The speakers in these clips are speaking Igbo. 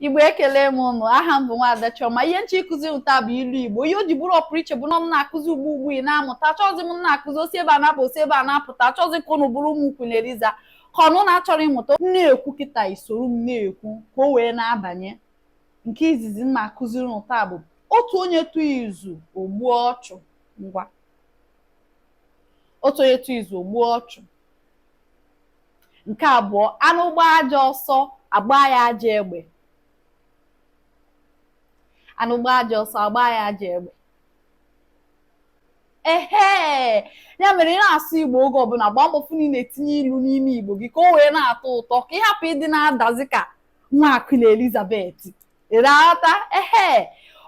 igbo ekele m ụnụ aha m bụ nwaada Chioma ihe m chọrọ ịkụzi ụnụ taa bụ ilu igbo ihe o ji bụrụ ọpụrụ iche bụ na m na-akụzi ugbu ugbu ị na-amụta achọghịzi m na-akụzi o si ebe a na-apụ o si ebe a na-apụta achọghịzi ka ụnụ bụrụ ụmụ queen eliza ka ụnụ na-achọrọ ịmụta m na-ekwu kịta i soro m na-ekwu ka o wee na-abanye nke izizi m na-akụziri ụnụ taa bụ otu onye tụọ izu o gbuo ọchụ ngwa otu onye tụọ izu o gbuo ọchụ nke abụọ anụ gbaa ajọ ọsọ a gbaa ya ajọ egbe anụ gbaa ajọ ọsọ a gbaa ya ajọ egbe ehe ya mere ị na-asụ igbo oge ọbụla gbaa mbọ fụ na ị na-etinye ilu n'ime igbo gị ka o wee na-atọ ụtọ ka ị hapụ ịdị na-adazi ka nwa queen elizabeth ị na-aghọta ehe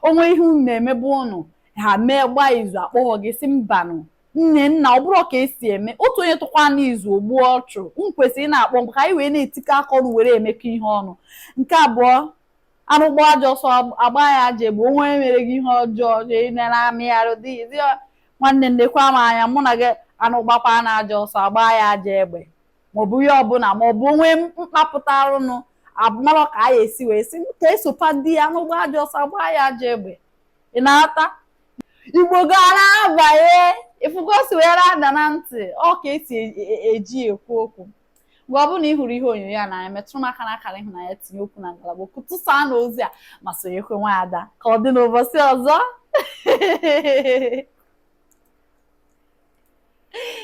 o nwee ihe unu na-emebu ọnụ ha mee gbaa izu akpọghọ gị sị mbanụ nne nna ọ bụrọ ka e si eme otu onye tụkwa n'izu o gbuo ọchụ i kwesịrị ịna-akpọ m ka anyị wee na-etikọ aka ọnụ were emekọ ihe ọnụ nke abụọ anụ gbaa ajọ ọsọ a gbaa ya ajọ egbe onye mere gị ihe ọjọọ na-ele amịgharị dị nwanne nekwa m anya mụ na gị anụ gbakwa na ajọ ọsọ a gbaa ya ajọ egbe maọbụ ihe ọbụla maọbụ onwe mkpapụta arụnụ abụmalọ ka a ya esi wee sị ka esopa di ya anụ gbaa ajọ ọsọ a gbaa ya ajọ egbe ị na-aghọta igbo gị ana-abanye ị fụgo o si wee ada na ntị ọ ka e si e, e, e, eji ekwu okwu mgbe ọ bụla ị hụrụ ihe onyonyo a n'anya metụrụ m aka n'akara ịhụnanya tinye okwu na ngalaba okwu tụsaa na ozi a ma sonyekwa nwaada ka ọ dị n'ụbọchị ọzọ